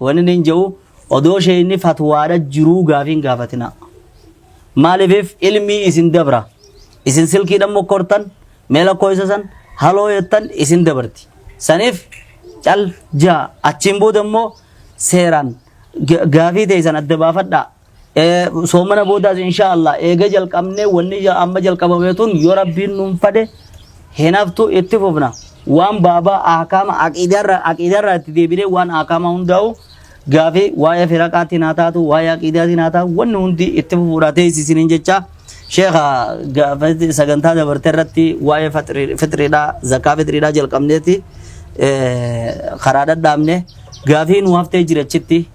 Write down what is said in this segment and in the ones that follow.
Wanni nin je'u odoo sheeyni fatwaadha jiruu gaafii hin gaafatinaa. Maaliifif ilmii isin dabra. Isin silkiidhan mokkortan mee lakkooysa san haloo jettan isin dabarti. Saniif cal ja'a achiin booda immoo seeraan gaafii teeysan adda baafadhaa. Eh, soomana boodaas insha Allah eega jalqabnee wanni ja- amma jalqabame tun yoo rabbiin nuun fade hinaftu itti fufna waan baabaa ahkaama aqiidarra aqiidarra itti deebinee waan ahkaama hundaa'u gaafii waa'ee firaqaatiin haa taatu waa'ee aqiidaatiin haa taatu wanni hundi itti fufuudha teessisiniin jecha sheekha gaafa sagantaa dabarte irratti waa'ee fixri- fixriidha zakaa fixriidha jalqabneeti eh, karaa dhadhaabne gaafii nu haftee jirachitti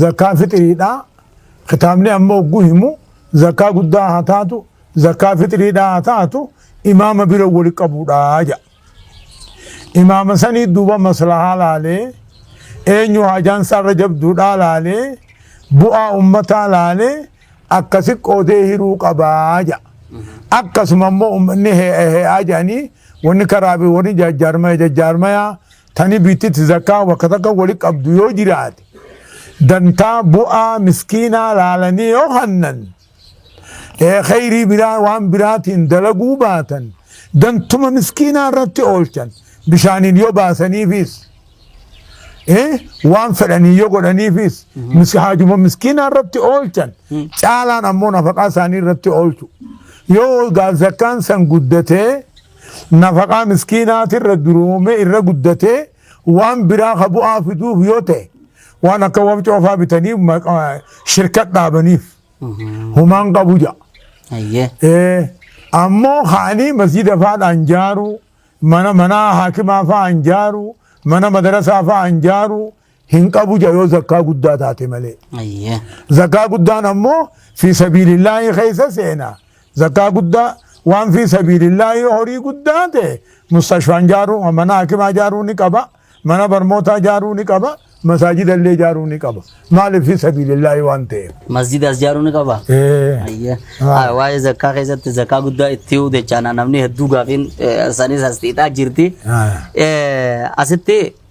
zakkaa fixiriidha. Kitaabni amma hogguu himu zakkaa guddaa haa taatu zakkaa fixiriidha haa taatu imaama bira wali qabuudha jedha. Imaama sanii duuba maslahaa laalee eenyu hajaan isaarra jabduudhaa laalee bu'aa ummataa laalee akkasi qoodee hiruu qabaa jedha. Akkasuma immoo ummanni hee'aa jedhanii wanni karaabii warri jajjaarmaya jajjaarmaya Tani biittiti zakkaa bakka takka wali qabdu yoo jiraate dantaa bu'aa miskiinaa laalanii yoo hannan kheyrii biraa waan biraatiin dalaguu baatan dantuma miskiinaa irratti oolchan bishaaniin yoo baasaniifis waan fedhanii yoo godhaniifis haajuma miskiinaa irratti oolchan caalaan ammoo nafaqaa isaanii irratti oolchu yoo zakkaan san guddatee Nafaqaa miskiinaatirra duroomee irra guddatee waan biraa ka bu'aa fiduuf yoo ta'e waan akka wabcoofaa bitanii shirkat dhaabaniif humaan qabu ja'a. Ammoo kaanii masjida faadhaan jaaruu mana manaa haakimaa fa'aan jaaruu mana madarasaa fa'aan jaaruu hin qabu ja yoo zakkaa guddaa taate malee. Ayyee. Zakkaa guddaan ammoo fi sabiilillaahii keessa seena. Zakkaa guddaa waan fi sabiilillaahii horii guddaa ta'e mustashfaan jaaruu mana hakimaa jaaruu ni qaba. Mana barmootaa jaaruu ni qaba. Masaajida illee jaaruu ni qaba. Maaliif fi sabiilillaahii waan ta'eef. Masjida as jaaruu ni qaba. Eh. Ayyee. Ah. Ah, Waa'ee zakkaa keessatti zakkaa guddaa itti huu jechaan namni hedduu gaafiin eh, isaaniis as xiixaa jirti. Ah. Eh, Asitti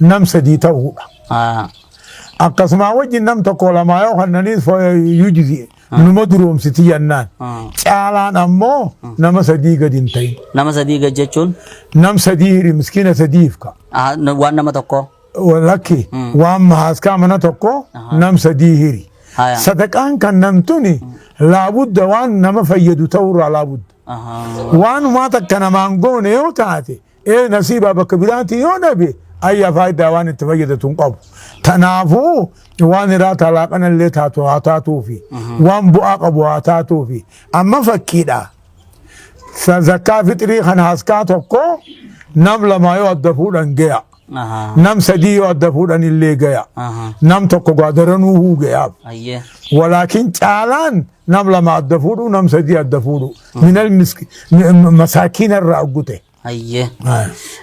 nam sadii ta'uudha. Akkasumaa wajjin nam tokko lamaa yoo kannaniis yujzi'e numa duroomsiti jennaan. Caalaan ammoo nama sadii gadi hin ta'in. Nama sadii gad jechuun Nam sadii hiri miskiina sadiif ka. ah, na- waan nama tokkoo. Lakki waan mahaaskaa mana tokko nam sadii hiri. Haya. Sadaqaan kan namtuni laabudda waan nama fayyadu ta'urraa laabudda. Ahaa. Waanumaa takka namaan goone yoo taate Ee nasiibaa bakka biraatii yoo dhabe ayya faayidaa waan itti fayyadatu hin qabu. Tanaafuu waan hiraa taalaa kanallee taatu haa taatuufi waan bu'aa qabu haa taatuufi amma fakkiidha. Sa- Zakkaa fixrii kan haskaa tokko nam lamaa yoo adda fuudhan gaya. Ahaa. Nam sadii yoo adda fuudhan illee gaya. Ahaa. Nam tokko gaadaranuu huu gayaaf. Ayyee. Walaakin caalaan nam lama adda fuudhu nam sadii adda fuudhu. minal miski masaakiina irraa oggute. Hayyee.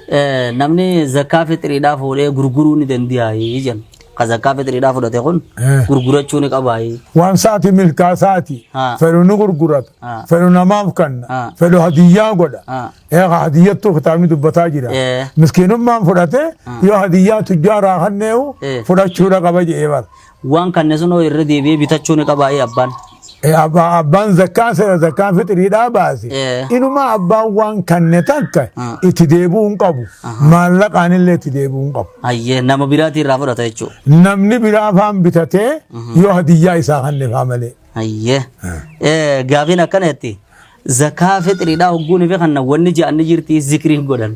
Eh, Namni zakkaa fixiriidhaa fuudhee gurguruu ni danda'aayii jenna. Ka zakkaa fixiriidhaa fudhate kun Eh. gurgurachuu ni qabaayii. Waan saati milkaa saati Ah. fedhu ni gurgurata Ah. fedhu namaaf kanna Ah. fedhu hadiyyaa godha. Ah. Eega hadiyyattuu kitaabni dubbataa jira. Eh. Miskiinummaan fudhate yoo hadiyyaa tujjaaraa kanneewu Eh. fudhachuudha qaba jedhee bara. Waan kanne sun hoo irra deebi'ee bitachuu ni qabaa ee abbaan? Eh, abba- Abbaan zakkaan seera zakkaan fixiriidhaa baase. Eh. Inumaa abbaan waan kanne takka Ah. itti deebi'uu hin qabu. Maallaqaan illee itti deebi'uu hin qabu. Hayyee nama biraatii irraa fudhata jechuudha. Namni biraa afaan bitatee yoo hadiyyaa isaa kannefaa malee. Hayyee. Eh, Gaafiin akkana jetti. Zakaa fixiriidhaa hogguun fi kanna wanni ja'anni jirti zikrii godhan.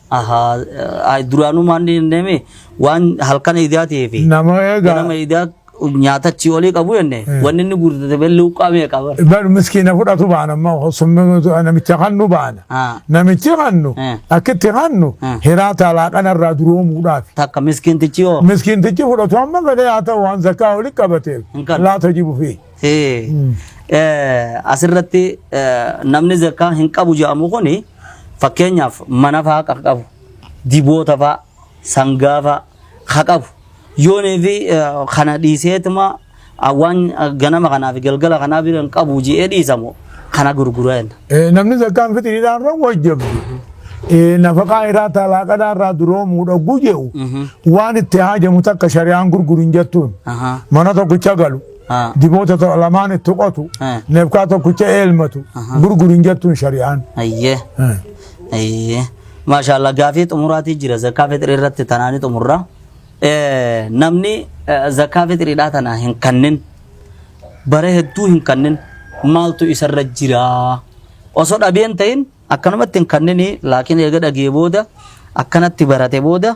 Ahaa, ay, duraanuu maan hin deeme waan halkan idaa ta'ee fi Nama egaa- ganama idaa nyaata achi olii qabu jenne wanni inni guutate bee luuqqaa meeqa bara. Bar miskiina fudhatu baana amma summii namicha kannu baana. Ah. Namichi kannu Eh. akkitti kannu Eh. hiraa taalaa kanarraa duroomuudhaaf. Takka miskiintichi hoo Miskiintichi fudhatu amma galee haa ta'u waan zakkaa walitti qabateef Hin qabu. laata jibu fi. Asirratti namni zakkaa hin qabu jedhamu kun fakkeenyaaf mana fa'aa kan qabu, diboota fa'aa, sangaa fa'aa kan qabu. Yoonii fi kana dhiiseetuma waan ganama kanaa fi galgala kanaa bira hin qabu jedhee dhiisamu kana gurgura jenna. Namni zakkaan fixiriidhaan irra wajjabu. Nafaqaa irraa talaaqadhaa irraa duroomuu dhoggu jedhu waan itti haajamu takka shari'aan gurguru hin jettuun mana tokkicha galu. Haa. Diboota to- lamaan itti qotu. Haa. Neefkaa tokkicha eelmatu. Aha. Gurguri hin jettuun shari'aan. Ayyee. Haa. Ayyee. Maashaallah gaafii xumuraatii jira zakkaa fixrii irratti tanaanii xumurra. Eh, Namni eh, zakkaa fixriidhaa tana hin kannin bara hedduu hin kannin maaltu isarra jira. Osoo dhabeen ta'in akkanumatti hin kanninii laakiin eega dhagee booda akkanatti barate booda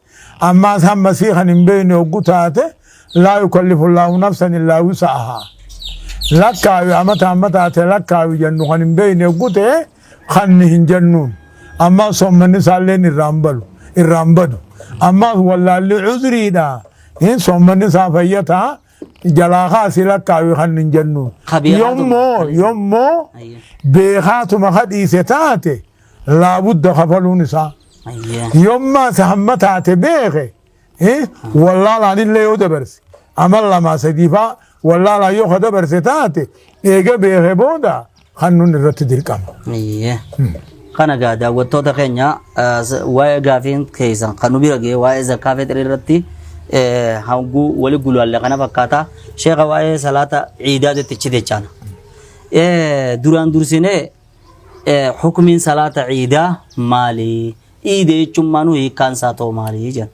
Ammaas hamma sii kan hin beekne hoggu taate laa yukallifu Allaahu nafsan illaa wusa'ahaa. Lakkaawi amata amma taate lakkaawi jennu kan hin beekne hoggu ta'e kanni hin jennuun. Ammaas soommanni isaalleen irraan balu irraan badu. Ammaas wallaalli cuzriidha. Hin soommanni isaa fayyataa jalaa kaasii lakkaawi kan hin jennuun. Kabiiraatu Yommoo kan isa- yommoo Ayya. beekaatuma kadhiise taate laabudda kafaluun isaa yommaas hamma taate beeke wallaalaan illee yoo dabarse amal lamaa sadiifaa wallaalaan yoo ka dabarse taate eega beeke booda kan nun irratti dirqama. Kana egaa daawwattoota keenya waa'ee gaafiin keessan kan nu bira ga'e waa'ee zakkaa fixrii irratti hanguu wali gulaalle kana fakkaata sheeka waa'ee salaata ciidaa jettichi jechaana. Duraan dursinee Hukmiin salaata ciidaa maali? Ciida jechuun maanuu hiikkaan isaa ta'u maali jedhan.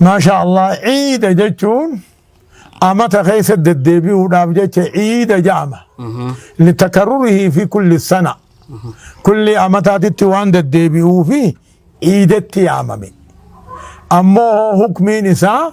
Maasha Allah ciida jechuun amata keessa deddeebi'uudhaaf jecha ciida jedhama. Litakarurihii fi kulli sana. Kulli amataatitti waan deddeebi'uu fi ciidatti yaamame. Ammoo hukmiin isaa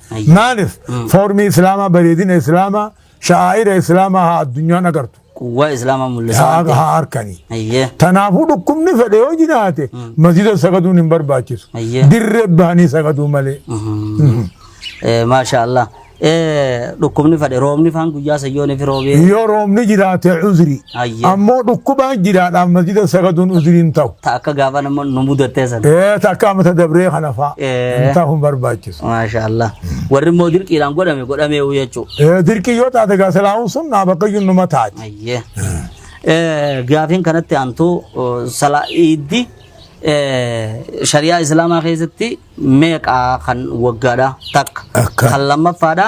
Hayya. Maaliif? Mm. Foormii Islaamaa, bareedina Islaamaa, sha'aa'ira Islaamaa haa addunyaan agartu. Quwwaa Islaamaa mul'isaa Haa waan ta'eef. haa harkanii. Hayyee. Kanaafuu dhukkubni fedhe yoo jiraate masjida sagaduun hin barbaachisu. Hayyee. Dirree bahanii sagaduu malee. Eh, Maashaa Allah. Eh, Dhukkubni fadhe roobni faan guyyaa sayyoonii fi roobee. Yoo roobni jiraate uzrii. Hayyee. Ammoo dhukkubaan jiraadhaan masjida sagaduun uzrii hin ta'u. Ta akka gaafa nama nu mudattee sana. Ee takka amata dabree kana fa'a. Ee. Hin ta'u hin barbaachisu. Maasha Allah. Warri immoo dirqiidhaan godhame godhamee jechuudha. Ee dirqii yoo taate gaa salaamuun sun naa bakka iyyuu numa taati. Ayyee. Eh, Gaafiin kanatti aantuu eh, salaa iiddi eh, shari'aa islaamaa keessatti meeqa kan waggaadha takka Akka. kan lammaffaadha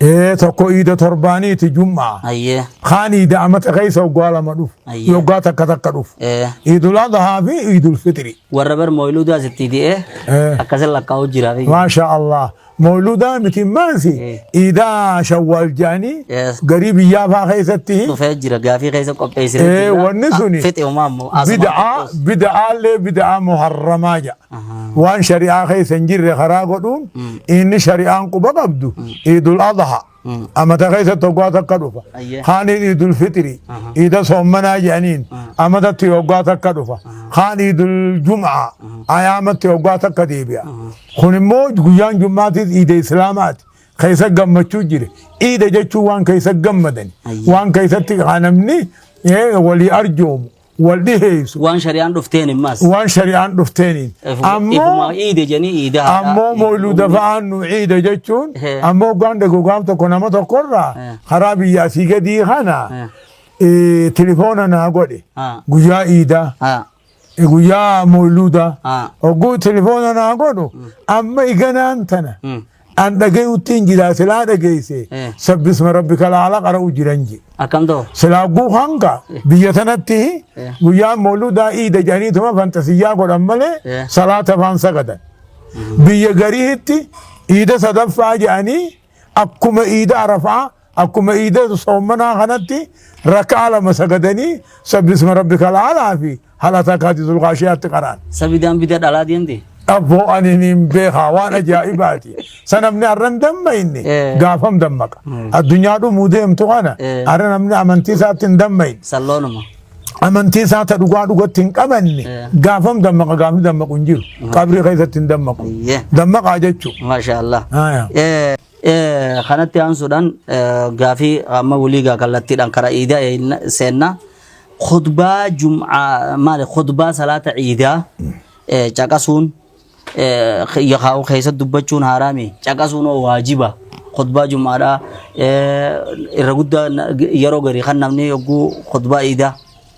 Ee tokko iida torbaaniiti jum'aa. Hayyee. Kaan iida amata keessa waggaa lama dhufu. Hayyee. Waggaa takka takka dhufu. Ee. Iidul Adhaa fi Iidul Fixri. Warra bar mooyiluudaa sitti di'ee Ee. akkasin lakkaa'uu jira. fi- Maasha Allah. Mooludaa miti maansi Eh. iidaa shawwaal jaanii Yes. garii biyyaa faa keessatti Dhufee jira gaafii keessa qopheessine. Ee, wanni suni- Fixi umaa ammoo. bida'aa bida'aallee bida'aa muharramaa jedha. waan shari'aa keessa hin jirre karaa godhuun inni shari'aan quba qabdu iidul adha amata keessa tokkaa takka dhufa Ayyee. kaaniin iidul fixri iida soommanaa jedhaniin amatatti hoggaa takka dhufa kaan iidul jum'aa ayaamatti hoggaa takka deebi'a kun immoo guyyaan jum'aatis iida islaamaati keessa gammachuu jire iida jechuun waan keessa gammadan Ayyee. waan keessatti kanamni walii arjoomu wal dhiheessu Waan shari'aan dhufteen immas. waan shari'aan dhufteeniin Ifuma ammoo iide janii iida. ammoo moyluuda fa'aan nu ciida jechuun Eh. ammoo hoggaan dagogaam tokko nama tokkorraa Eh. karaa biyya asii gadii kana Eh. eh, tilifoona naa godhe Ah. guyyaa iidaa Ah. eh, guyyaa moyluudaa Ah. hogguu tilifoona naa godhu amma iganaan tana Mm. an dhagayuttiin jira silaa dhageeyse Eh. sabbisma rabbika laala qara'u jiran je Akkam ta'u? silaa guu hanga biyya tanatti Eh. guyyaan mooludaa iida jedhaniituma fantasiyyaa godhan malee Eh. salaata faan sagadan biyya gariitti iida sadaffaa jedhanii akkuma iida arafaa Akkuma iida soommanaa kanatti rakkaa lama sagadanii sabbisma rabbi kalaalaa fi halataa kaati zulqaashiyaatti qaraan. Sabidaan bida dhalaa deemte. Abboo ani niin beekaa waan ajaa'ibaati. Sa namni arran damma inni Eh. gaafam dammaqa. Mm. Addunyaa dhumuu deemtu kana Eh. arra namni amantii isaatti hin dammayin. Salloonuma. Amantii isaa ta dhugaa dhugatti hin qabanne Eh. gaafam dammaqa gaafni dammaqu hin jiru. Qabrii keessatti hin dammaqu. Ayyee. Dammaqaa jechuudha. Maashaa Allah. Aya. Eh, Eh, kanatti aansuudhaan eh, gaafii amma waliigaa kallattiidhaan karaa iidaa eenna- seenna khutbaa jum'aa maali khutbaa salaata iidaa eh, caqasuun eh, yakaa'u keessa dubbachuun haaraami caqasuun oo waajiba khutbaa jum'aadhaa eh, irra guddaa na- yeroo garii kan namni yogguu khutbaa iidaa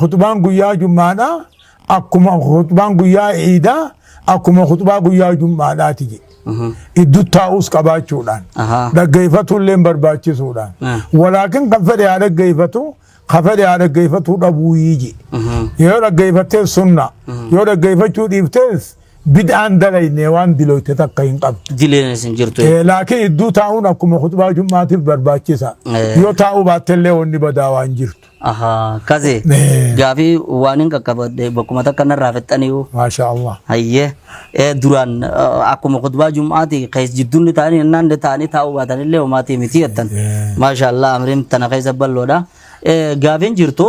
Khuxbaan guyyaa jummaadha akkuma khuxbaan guyyaa iidaa akkuma khuxbaa guyyaa jummaadhaati jedhe. Iddu taa'us qabaachuudhaan Ahaa. dhaggeeffatu illee barbaachisuudhaan Ah. walaakin kan fedhe haa dhaggeeffatu kan fedhe haa dhaggeeffatu dhabuu jedhe. Yoo dhaggeeffattee sunna yoo dhaggeeffachuu dhiiftees Bid'aan dalaynee waan diloyte takka hin qabdu. Dilenis hin jirtu. Eh, Laakiin idduu taa'uun akkuma khutbaa jummaatiif barbaachisa. Eh. Yoo taa'uu baattellee wanni badaa waan jirtu. Ahaa kaze Eh. gaafii waan hin qaqqabadde bakkuma takka narraa fixxaniiru. Maashaa Allah. Hayyee eh, duraan eh, akkuma khutbaa jum'aati kees jidduun ta'anii innaan ta'anii taa'uu baatan illee homaatii miti jettan. Eh. Maashaallah amriin tana keessa balloodha. Eh, Gaafiin jirtu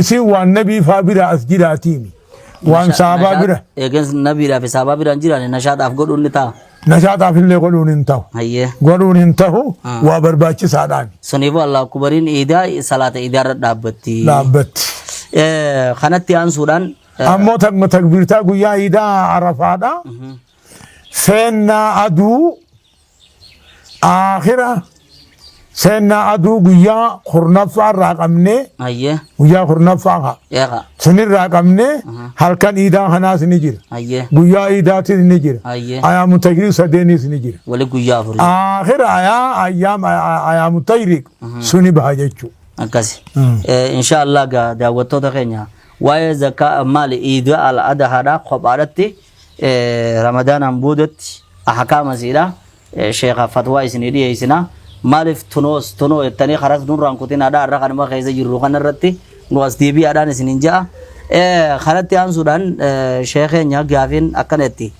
isin waan nabii faa bira as jiraatiimi waan saabaa bira Eegens nabiidhaa fi saabaa biraan jiraane nashaadhaaf godhuun ni ta'a. nashaataaf illee godhuun hin tahu Hayyee. godhuun hin tahu Ah. waa barbaachisaadhaan Suniifuu Allah akubariin iidaa salaata iidaarra dhaabbatti. dhaabbatti Eh, Kanatti aansuudhaan. eh, ammoo takma takbiirtaa guyyaa iidaa arafaadha seennaa aduu Aakhira seennaa aduu guyyaa kurnaffaa irraa qabnee Ayyee. guyyaa kurnaffaa haa. Eeqa. Sinirraa qabnee halkan iidaa kanaas ni jira. Ayyee. Guyyaa iidaatis ni jira. Ayyee. Ayaamu tajriib sadeeniis ni jira. Wali guyyaa afurii. Aakhira ayaa ayyaam ayaamu tajriib suni baha jechuu. Akkasi. Eh, Insha Allah gaa daawwattoota keenya waa'ee zakkaa maali iidaa al-adahaadhaa kophaadhatti ramadaanaan boodatti ahkaama isiidha sheekha fatwaa isinii dhiyeessina maaliif tunoos tunoo jettanii karas nurraan kutinaadha irra kanuma keessa jirru kanarratti nu as deebi'aadhaan isinin ja'a kanatti aansuudhaan sheekeenya gaafiin akkana itti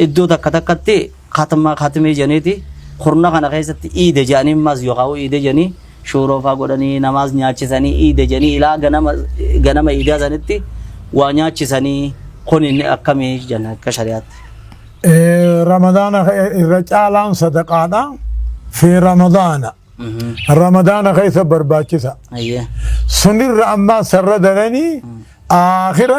iddoo takka takkatti Khatma, khatmii janiiti kurna kana keessatti iida jedhanii ammas yookaan iida jedhanii shuuroo faa godhanii namaas nyaachisanii iida jedhanii ilaa ganama ganama iidaa sanitti waa nyaachisanii kun inni akkamii jenna akka shari'aatti. Eh, Ramadaana ke- irra caalaan sadaqaadha. Fi Ramadaana. Ramadaana keessa barbaachisa. Ayyee. Sunirra ammaa sarra daranii aakhira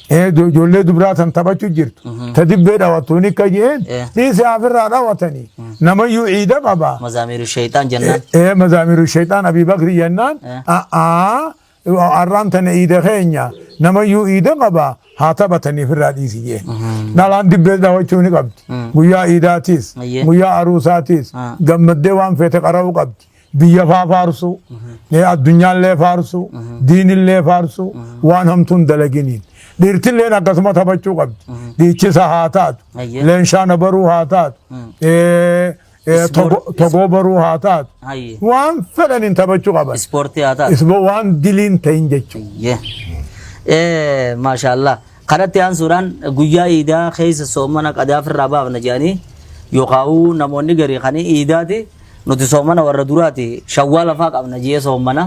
Ee ijo- ijoollee dubraa tan taphachu jirtu ta dibbee dhawattuun akka jeen Eh. dhiise afirraa dhawatanii namayyuu ciida qaba Mazaamiiru sheeyxaan jennaan. ee mazaamiru shayxaan abii bakri jennaan Eh. a'aa arraan tana ciida keenya namayyuu ciida qaba haa taphatanii firraa dhiisi jeen dhalaan dibbee dhawachuu ni qabdi guyyaa ciidaatiis Ayyee. guyyaa aruusaatiis Ah. gammaddee waan feete qara'uu qabdi biyya faa faarsuu, eh, addunyaallee faarsuu, diinillee faarsuu, waan hamtuun dalaginiin. Dhiirtilleen akkasuma taphachuu qabdi. Dhiichisa haa taatu, Ayyee. leenshaana baruu haa taatu, eh, eh, Ispoor- togo- togoo baruu haa taatu. Hayyee. Waan fedhaniin taphachuu qaban. Ispoortii haa taatu. Isbo waan diliin ta'in jechuudha. Hayyee. Eh, Maashaallah. Kanatti aansuudhaan guyyaa iidaa keessa soomana qadaa ofirraa baafna jedhanii yookaawuu namoonni garii kan iidaati nuti soomana warra duraati shawwaa lafaa qabna jee soomana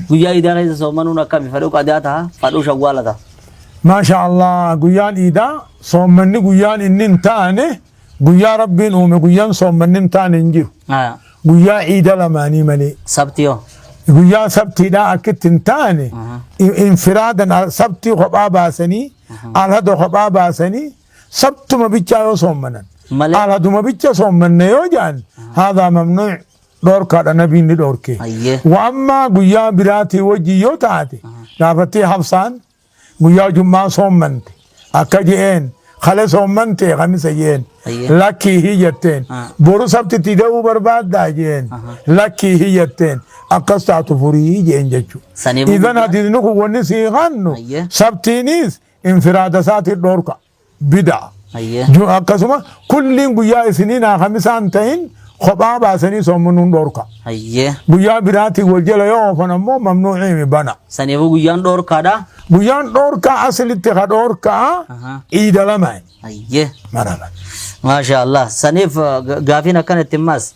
guyyaa iidaa keessa soomanuun akkami fadhuu qadaa taha fadhuu shawwaala taha. Maasha Allah guyyaan iidaa soommanni guyyaan inni hin taane Guyyaa Rabbiin uume guyyaan soommanni hin taane hin jiru. Aya. Guyyaa iida lamaanii malee. Sabti hoo? Guyyaan sabtiidhaa akkitti hin taane in- infiraadan al- sabtii kophaa baasanii alhada kophaa baasanii sabtuma bichaa yoo soommanan. Malee. Alhaduma bicha soommanne yoo jedhan haadaa mamnuuc dhoorkaadha nabiin ni dhoorke. Ayyee. Wa ammaa guyyaa biraatii wajjin yoo taate gaafattii habsaan Guyyaa jum'aa soommante. Akka je'een kale soommante kamisa je'een. Ayyee. Lakkii hii jetteen. Ah. Boru sabtitti ga'uu barbaaddaa je'een. Aha. Lakkii hii jetteen. Akkas taatu furii je'een jechuudha. Sanii booda- Idan hadiisni kun wanni sii hannu Ayyee. sabtiinis infiraada isaatiin dhorka. bidaa. Ayyee. Ju- Akkasuma kulliin guyyaa isiniin haa kamisaan ta'in kophaa baasanii soomanuun dhorka. Ayyee. Guyyaa biraatiin wal jala yoo oofan ammoo mamnuuciimi bana. Saniifuu guyyaan dhoorkaadha. Guyyaan dhorkaa asilitti ka dhorkaa Ahaa. iida lama Ayyee. marama. Maasha Allah. Saniif uh, ga- gaafiin akkana itti himmaas.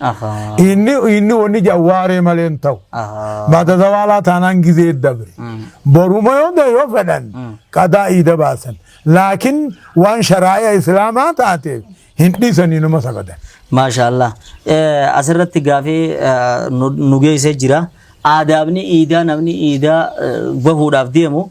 Ahaa. Inni inni wanni ja waaree malee hin ta'u. Ahaa. Baata zawaalaa taanaan gizee dabre. Boruma yoo ta'e yoo fedhan qadaa iida baasan. Laakiin waan sharaaya islaamaa taateef hin dhiisanii nama sagadan. Maashaallah. Eh, Asirratti gaafii eh, nu nu geessee jira. Aadaabni iidaa namni iidaa eh, bahuudhaaf deemu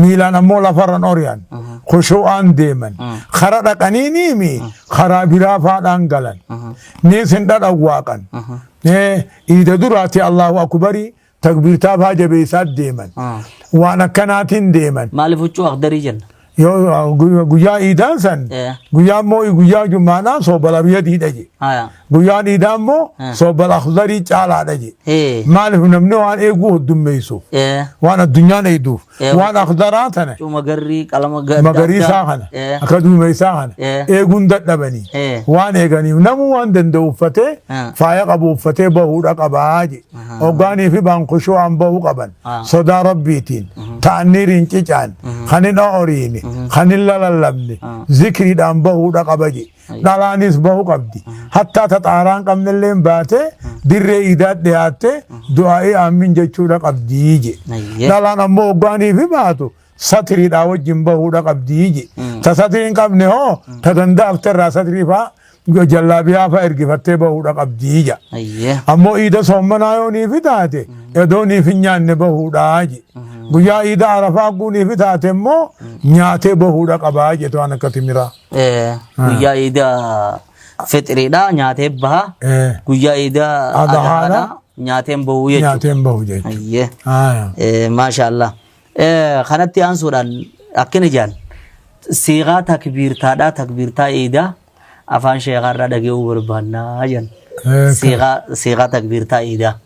miilaan ammoo lafarran ori'an khushu'aan deeman kara dhaqaniiniimi karaa biraa faadhaan galan ni sin dhadhawwaaqan Eh, iida duraati allahu akbarii takbiirtaa faa jabeessaa deeman Ah. waan akkanaatiin deeman Maaliif huccuu akdarii jenna? yoo gu- guyyaa iidaan san Eh. guyyaa immoo guyyaa jummaadhaan soobala biyya diidha je Haya. Guyyaan iidaa immoo Ah. soobal akhdarii caalaadha jee. Ee. Maaliif namni waan eeguu hoddummeessuuf. Ee. Waan addunyaan eegduuf. Ee. Waan akhdaraa tana. Cuma garrii qalama gadda. Magariisaa kana. Ee. Akka duumessaa kana. Ee. Eeguun dadhabanii. Ee. Waan eeganiif namuu waan danda'u uffatee Ah. faaya qabu uffatee bahuudha qabaa jee. Ahaa. Hoggaanii fi baankushuu waan bahuu qaban. Ah. Sodaa rabbiitiin. Ta'anniiriin cicaan. Kan hin ooriine. Kan hin lalallabne. Ah. Zikriidhaan bahuudha qaba jee. dhalaanis bahu qabdi. Hattaa ta xaaraan qabnelleen baate dirree iidaa dhiyaatte du'aa'ii aammin jechuudha qabdi je. Ayyee. Dhalaan ammoo hoggaaniif baatu satiriidhaa wajjin bahuudha qabdi je. Ta satirii hin qabne hoo ta danda'afte irraa satirii fa'aa jallaabiyaa fa'aa ergifattee bahuudha qabdi ja. Ayyee. Ammoo iida soommanaa yoo niifi taate edoo niif hin nyaanne bahuudhaa je. Guyyaa iida arafaa guu niifi taate immoo nyaatee bahuudha qabaa jetu waan akka timiraa. Eh, Guyyaa iida fixiriidha nyaatee baha. Eh, Guyyaa iida Adhaadha. adhaadha nyaateen bahuu jechuudha. nyaateen bahu jechuudha. Ayyee. Aya. Eh, Maashaallah. Eh, Kanatti aansuudhaan akkana jaan siiqaa takbiirtaadhaa takbiirtaa iidaa afaan sheekaarraa dhage'uu barbaannaa jaan. Eh, Siiqaa siiqaa takbiirtaa iidaa.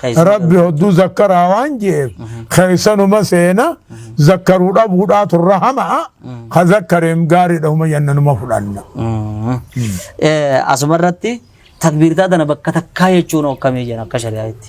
Keessuma rabbi dhabuu. hodduu zakkaraa waan jeef keessanuma seena zakkaruu dhabuudhaa turra hama'a ka zakkareem gaariidha huma yannanuma fudhanna Mm. Eh, Asuma irratti takbiirtaa tana bakka takkaa jechuun hokkamee jira akka shari'aatti.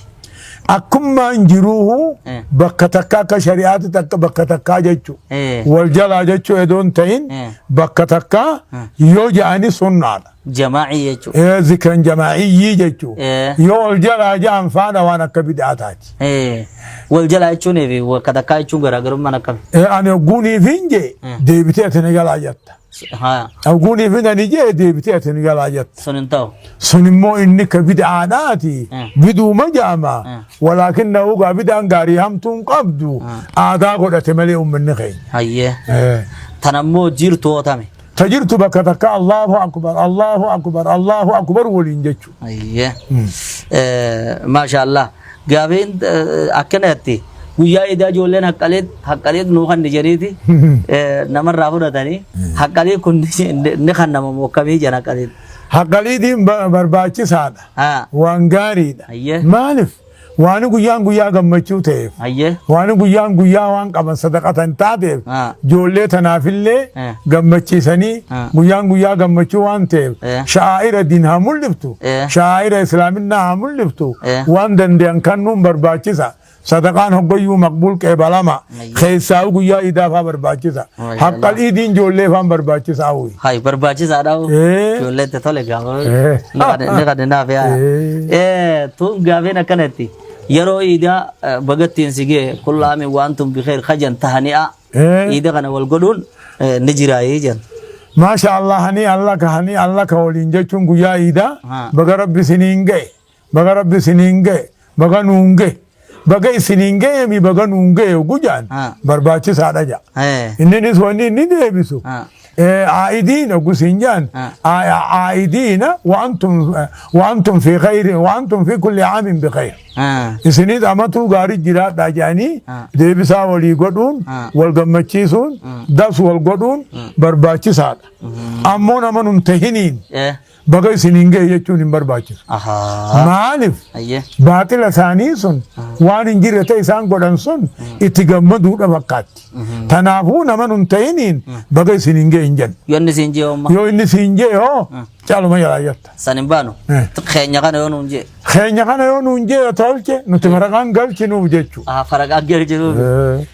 akkummaan jiruuhu Eh. bakka takka akka shari'aatti takka bakka takkaa jechuu Eh. wal jalaa jechuu edoon ta'in Eh. bakka takkaa yoo ja'ani sunnaadha Jamaa'ii jechuun. Eh, zikran jamaa'iyyii jechuun Eh. yoo ol jalaa ja'an faana waan akka bid'aa taati. Eh, Wal jalaa jechuunii fi wal katakkaa jechuun garaagarummaan akkami? Eh, Ani ogguunii fi hin jee Eh. deebitee ati ni galaa jatta. Haa, Ogguunii fi ani jee deebitee ati ni galaa jatta. sun hin ta'u. Sun immoo inni akka bid'aadhaati. Eh. Biduuma jaama. Eh. Walaakin na ugaa bid'aan gaarii hamtuu hin qabdu. Aadaa godhate malee uummanni keenya. Hayyee. Eh. Tan ammoo jiirtu hootame. Ta jirtu bakka takka Allahu Akbar, Allahu Akbar, Allahu Akbar waliin jechu. Ayyee. Maashaallah. Gaafiin akkanatti guyyaa idaa ijoolleen haqqalee haqqalee nuu kan jedhaniiti namarraa fudhatanii haqqalee kun ni kan nama mookkamii jedhan haqqalee. Haqqaliitiin barbaachisaadha. Waan gaariidha. Maaliif? Waani guyyaan guyyaa gammachuu ta'eef, Hayyee. waani guyyaan guyyaa waan qaban sadaqatan taateef, Ah. ijoollee tanaafillee Eh. gammachiisanii Ah. guyyaan guyyaa gammachuu waan ta'eef, Eh. sha'aa'ira diin haa mul'iftu, Eh. sha'aa'ira islaaminaa haa mul'iftu, Eh. waan danda'an kannuun barbaachisa. Sadaqaan hoggayyuu maqbuul qeebalama. Ayyo. Keessaa'u guyyaa iidaa faa barbaachisa. Mashallah. Haqqal iidiin ijoollee faan barbaachisa hawwi. Hay barbaachisaadha. Eh. Ijoollee itti tole gaafa. Eh. Ni qade- ni qade naaf yaa. Eh. Eh, Tun gaafeen akkanatti yeroo iidaa eh, bagattiin si gee kullaami waan tun bikeer kajan tahani'a. Eh. Iida kana wal godhuun eh, ni jiraayee jan. Maasha Allah hani Allah ka hani Allah ka waliin jechuun guyyaa iidaa Ha. baga rabbi siniin ga'e. Baga rabbi isiniin ga'e baga nuun ga'e baga isiniin ga'e mi baga nuun ga'e oguu jaan Ah. barbaachisaadha jaa. Eh. Inninis wanni inni deebisu Ah. aa'idiina oguu siin jaan Ah. aa'idiina waantum waantum fi khayri waantum fi kulli aamin bi khayr. Ah. Isinis amatuu gaarii jiraadhaa jedhanii Ah. deebisaa walii godhuun Ah. wal gammachiisuun das wal godhuun barbaachisaadha. Ammoo nama nun tahiniin Eh. baga isiniin gahe jechuun hin barbaachisu. Ahaa. Maaliif? Ayyee. Baaxila isaanii sun waan hin jirre ta'e isaan godhan sun itti gammaduudha fakkaatti. Tanaafuu nama nun ta'iniin baga isiniin gahe hin jennu. Yoo inni siin jee hooma. Yoo inni siin jee hoo caaluma jalaa jatta. San hin baanu. Eh. Keenya kana yoo nuun jee. Keenya kana yoo nuun jee tolche nuti maraqaan galchinuuf jechuudha. Ahaa faragaa gadi jiruuf.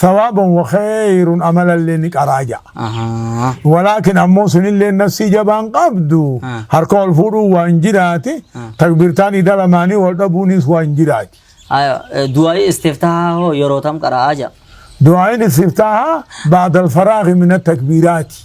Thawaaban wa kheeyrun amalallee ni qaraa ja'a. Ahaa. Walaakin ammoo sunilleen nafsii jabaan qabdu Ah. harka wal fuudhuun waan jiraati Ah. takbirtaan ida lamaanii wal dhabuunis waan jiraati. Aya, eh, du'aa'ii istiftahaa hoo yeroo tam qara'aa ja'a. Du'aayin istiftaaha ba'dal faraaghi mina takbiraati.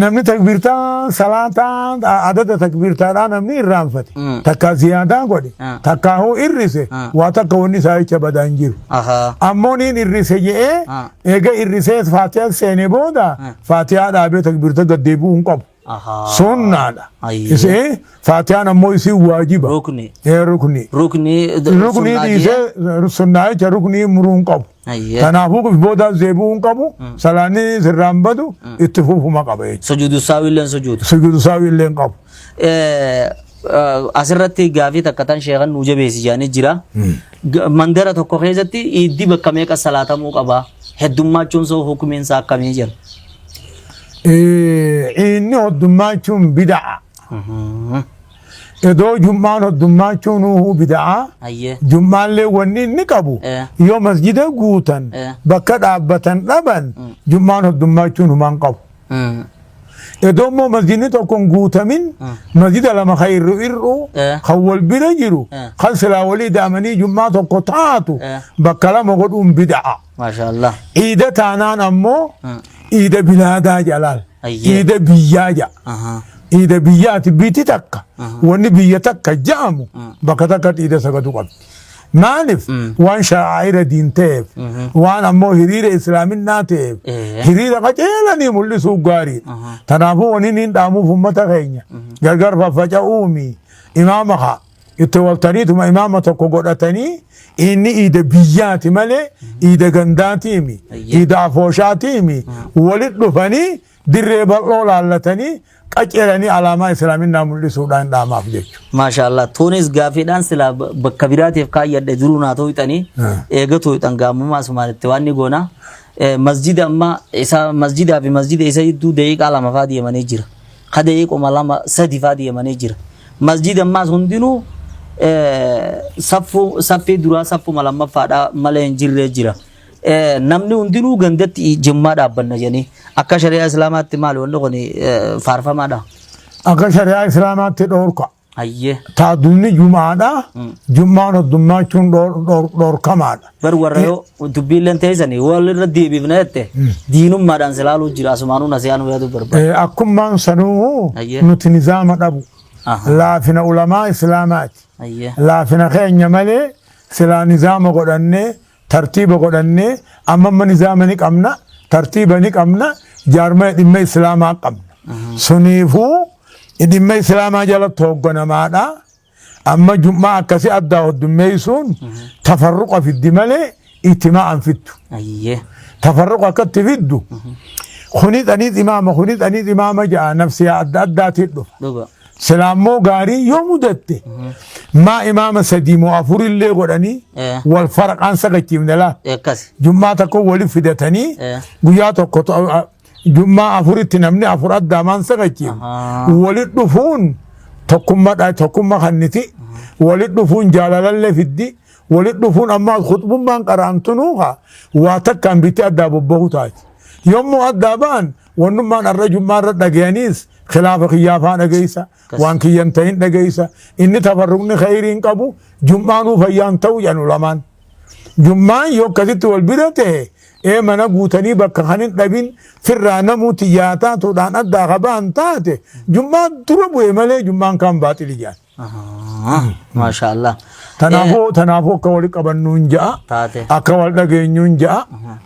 Namni takbiirtaa salaataa adada takbiirtaadhaa namni irraanfate takkaa ziyaadaa godhe takkaa hoo irrise waa takka wanni isaa jecha badaa hin jiru. Ammoo niin irrise je'ee eega irrisees faatiyaa seene booda faatiyaa dhaabee takbiirta gad deebi'uu hin qabu. Sunnaadha. Isee faatiyaan ammoo isin waajiba. Rukni. Rukni. Rukni dhiisee sunnaa jecha ruknii muruu hin qabu. Hayyee. Kanaafuu qif booda zeebuu hin qabu salaanni sirraan badu itti fufuma qaba jechuudha. Sujuudu saawii illee sujuudu. Sujuudu saawii illee hin qabu. Eh, eh, Asirratti gaafii takka tan sheekan nuu jabeessi jedhanii jira. Ga- Mandara tokko keessatti iiddi bakka meeqa salaatamuu qaba? Heddummachuun isaa hukumiin isaa akkamii jira? Eh, Inni hoddummachuun bida'a. Mhm. Edoo jum'aan hoddummaachuun uhu bida'aa Hayyee. jum'aallee wanni inni qabu Eh. yoo masjida guutan Eh. bakka dhaabbatan dhaban jum'aan hoddummaachuun humaan qabu. Mm. Edoo immoo masjidni tokko hin guutamin masjida lama kan irru irru Eh. kan wal bira jiru Eh. kan silaa walii daamanii jum'aa tokko taatu Eh. bakka lama godhuun bida'a. Maashaa Allah. Iida taanaan ammoo Ah. iida bilaadaa jalaal. Ayyee. Iida biyyaa ja'a. Ahaa. Iida biyyaati biiti takka. Wanni biyya takka ja'amu bakka takka iida sagadu qabdi. Maaliif waan sha'aa'ira diin ta'eef waan ammoo hiriira islaaminaa ta'eef Eh. hiriira qajeelanii mul'isuu gaariidha. Kanaafuu wanni niin dhaamuuf uummata keenya gargar faffaca'uumi imaama haa. itti waltaniituma imaama tokko godhatanii inni iida biyyaati malee iida gandaatiimi iida afooshaatiimi walit dhufanii dirree bal'oo laallatanii qaceelanii alaamaa islaaminaa mul'isuudhaan dhaamaaf jechuudha. Maasha Allah. Tunis gaafiidhaan silaa ba- bakka biraatiif kaayyadhe jiruu naa tooyxanii Ah. eega tooyxan gaamummaa sumaalitti waan ni goona. Eh, Masjida amma isa masjidaa fi masjida isa jidduu daqiiqaa lama faa deemanii jira. ka daqiiquma lama sadi faa deemanii jira masjid ammaas hundinuu eh, saffuu saffii duraa saffuma lammaffaadhaa malee hin jirree jira Eh, namni hundinuu gandatti jimmaa dhaabbanna jedhanii akka shari'aa islaamaatti maal wanni kun eh, faarfamaadha akka shari'aa islaamaatti dhoorka Hayyee. Taadulli jum'aadha. Jum'aan hoddummaachuun dhor- dhor- dhorkamaadha. Bar warra yoo dubbiilleen teessanii walirra deebifna jette diinummaadhaan silaaluu jira asumaanuu nasiyaanuu yaaduu barbaada. Eh, Akkummaan sanuu Hayyee. nuti nizaama dhabu. Aha. Laafina ulamaa islaamaati. Hayyee. Laafina keenya malee silaa nizaama godhannee Tartiiba godhannee amma amma nizaama ni qabna, tartiiba ni qabna, jaarmaya dhimma Islaamaa qabna. Suniifuu dhimma Islaamaa jalatti hoogganamaadha. Amma jum'aa akkasii addaa hoddummeessuun tafarruqa fiddi malee itimaa an fiddu. Ayyee. Tafarruqa akkatti fiddu. Kuni xaniit imaama, kuni xaniit imaama ja'a nafsiyaa adda addaatiin dhufa. Dhuga. Silaa immoo gaarii yoo mudatte maa imaama sadii moo afur illee godhanii Eh. wal faraqaan sagachiifne laa. Akkas. Jummaa tokko waliif fidatanii Eh. guyyaa tokko to- a- jummaa afuritti namni afur addaamaan sagachiif Ahaa. walitti dhufuun tokkummaadha tokkumma kanniti walitti dhufuun jaalalallee fiddi walitti dhufuun ammaa kutbummaan qaraamtunuuka waa takkaan bitti addaa bobba'u taati. Yommuu addaa ba'an Wannummaan arra jummaa irra dhagayaniis khilaafa kiyyaa faa dhagaysa Kas. waan kiyyan ta'in dhagaysa inni tafarruqni khayriin qabu jummaanuu fayyaan ta'u jedhan ulamaan. Jummaan yoo akkasitti wal bira ta'e ee mana guutanii bakka kan hin dhabin firraa namuu tiyyaa taatuudhaan addaa qabaan taate jummaa dura bu'e malee jummaan kaan baaxili jedhan. Maashaa Allah. Tanaafuu tanaafuu akka wal qabannuun ja'a. Taate. Akka wal dhageenyuun ja'a.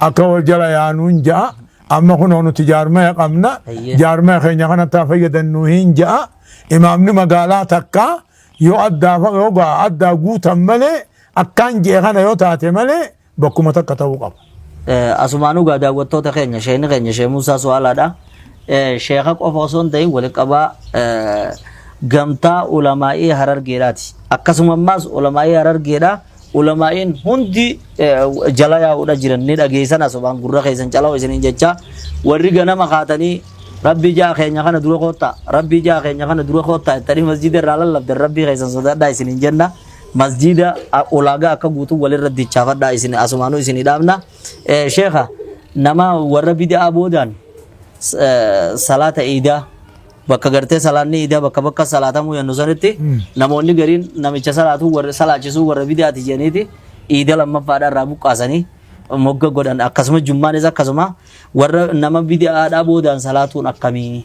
Akka wal jala yaanuun ja'a. Amma kunoo nuti jaarmaya qabna. Eeyyee. Jaarmaya keenya kanatti haa fayyadannuu hin ja'a. Imaamni magaalaa takka yoo addaa fa- yoo gaa- addaa guutan malee akkaan je'e kana yoo taate malee bakkuma takka ta'uu qaba. Eh, Asumaanuu gaa daawwattoota keenya sheekni keenya Sheek Muusaa Su'aalaadha. Eh, Sheeka qofa osoo hin ta'in walitti qabaa eh, gamtaa ulamaa'ii harargeedhaati. Akkasuma ammaas ulamaa'ii harargeedha. Ulamaa'iin hundi eh, jala yaa'uudha jiran ni dhageessan asumaan gurra keessan cala'u isiniin jecha warri ganama kaatanii rabbii ijaa keenya kana dura koottaa rabbii ijaa keenya kana dura koottaa ittanii masjiida irraa lallabdan rabbii keessan sodaadhaa isiniin jenna. masjiida a- ulaagaa akka guutuu walirra dichaafadhaa isin asumaanuu isin dhaabna Eh, sheekha nama warra bida'aa boodaan s- eh, salaata iidaa bakka gartee salaanni iidaa bakka bakka salaatamuu yannu sanitti namoonni gariin namicha salaatuu warra salaachisuu warra bidaati jedhaniiti iida lammaffaadha irraa buqqaasanii mogga godhan akkasuma jummaanis akkasuma warra nama bida'aadhaa boodaan salaatuun akkamii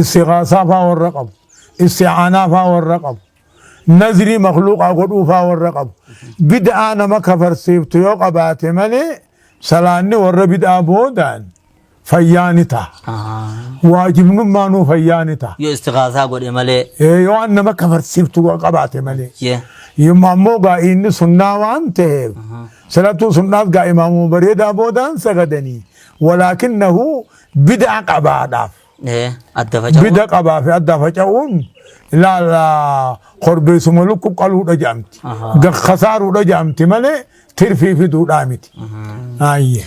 istighaasaa faa warra qabu isti'aanaa faa warra qabu nazrii makluuqaa godhuu faa warra qabu bid'aa nama kafarsiiftu yoo qabaate malee salaanni warra bid'aa boodaan fayyaa ni ta'a Ah. waajibnummaa nuu fayyaa ni ta'a Yoo istighaasaa godhe malee. Ee, yoo an nama kafarsiiftu qabaate malee Yee. Yomma ammoo gaa inni sunnaa waan ta'eef salatuu sunnaas gaa imaamuma bareedaa boodaan sagadanii walaakinnahu bidaa qabaadhaaf. Ee, adda faca'uu. Bida qabaa fi adda faca'uun ilaala korbeessuma lukku qaluudha jedhamti. Ahaa. Ga- Kasaaruudha jedhamti malee tirfii fiduudhaa miti. Ayyee.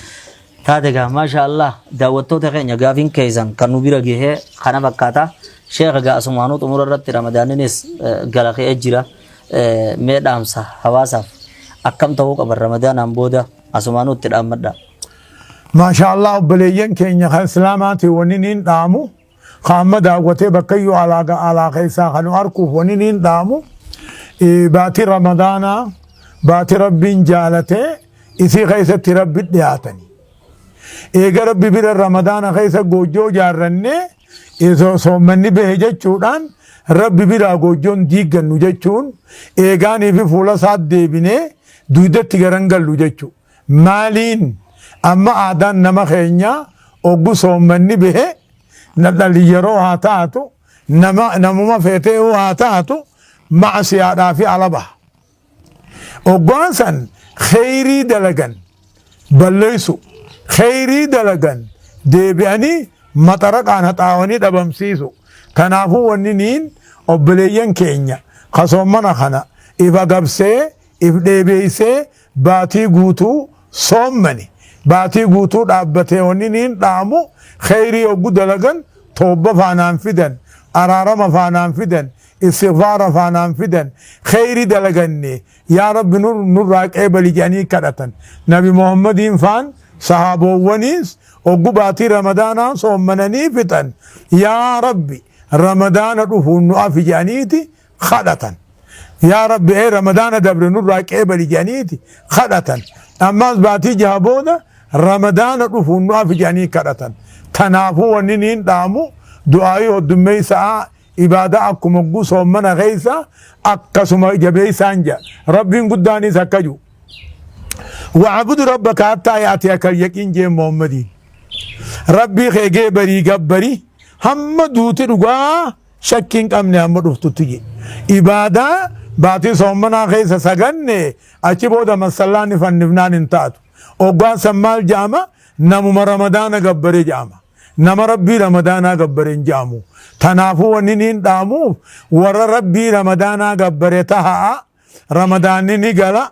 Taate gaa maasha Allah daawwattoota keenya gaafiin keessan kan nu bira gahee kana fakkaata. Sheekha gaa asumaanuu xumura irratti ramadaaninis eh, gara ka'ee jira. Eh, Mee dhaamsa hawaasaaf akkam ta'uu qaban ramadaanaan booda asumaanuu itti dhaammadha. Maashaa Allaah obboleeyyan keenya kan Islaamaati wanin hin dhaamu ka amma daawwatee bakkayyuu alaa ga alaa keessaa kan nu arkuuf wanin hin dhaamu baatii Ramadaanaa baatii Rabbiin jaalatee isii keessatti Rabbi dhiyaatani. Eega Rabbi bira Ramadaana keessa goojjoo jaarrannee isoo soommanni bahe jechuudhaan Rabbi biraa goojjoon diiggannu jechuun eegaanii fi fuula isaa deebinee duudatti garan gallu jechuudha. Maaliin amma aadaan nama keenyaa oggu soommanni bahe nadhalli yeroo haa taatu nama namuma feetee yoo haa taatu ma'asiyaadhaa fi ala baha. Oggaan san kheyrii dalagan balleessu kheyrii dalagan deebi'anii maxaraqaan haxaawanii dhabamsiisu. Kanaafuu wanni niin obboleeyyan keenya kasoommana kana if agabsee if dheebeessee baatii guutuu soommani baatii guutuu dhaabbatee wanni niin dhaamu kheyrii oggu dalagan toobba faanaan fidan araarama faanaan fidan istighfaara faanaan fidan kheyri dalaganne yaa rabbi nurraa qeebali jedhanii kadhatan nabi muhammadiin faan sahaaboowwaniis oggu baatii ramadaanaa soommananii fixan yaa rabbi ramadaana dhufuun nu afi jedhaniiti kadhatan. Yaa Rabbi ee Ramadaana dabre nurraa qeebali jedhaniiti kadhatan. Ammaas baatii jaha booda Ramadaana dhufuun nu afi jedhanii kadhatan. Tanaafuu wanni niin dhaamu du'aayii hoddummeessa'aa ibaadaa akkuma hogguu soommana keessa akkasuma jabeessaan jedha. Rabbiin guddaanis akka jiru. Wa'abudu rabbaka hattaa yaati akka yaqiin jee Muhammadiin. Rabbii kee gee barii gabbarii hamma duuti dhugaa Shakki hin qabne amma dhuftutti je. Ibaadaa baatii soommanaa keessa saganne achi booda massallaan ni fannifnaan hin taatu. Oggaa san maal ja'ama? Namuma Ramadaana gabbare ja'ama. Nama Rabbii Ramadaanaa gabbare hin ja'amu. Tanaafuu wanni niin dhaamuuf warra Rabbii Ramadaanaa gabbare taha'a. Ramadaanni ni gala.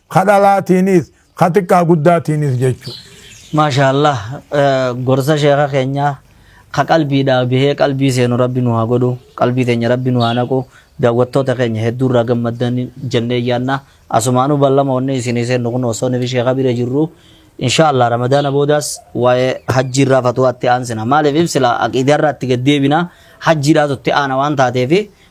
ka dhalaatiinis ka xiqqaa guddaatiinis jechuu Maashaallah eh, gorsa sheekha keenyaa ka qalbiidhaa bahee qalbii seenu rabbi nu haa godhu qalbii teenya rabbi nu haa naqu daawwattoota keenya hedduu irraa gammaddan jennee yaanna asumaanuu ballama onnee isinii seennu kun osoo nufi sheekha bira jirru inshaallah ramadaana boodaas waa'ee hajjii irraa fatuwaatti aansina maaliif ibsila aqiidaa irraatti gad deebina hajjiidhaatu itti aana waan taateefi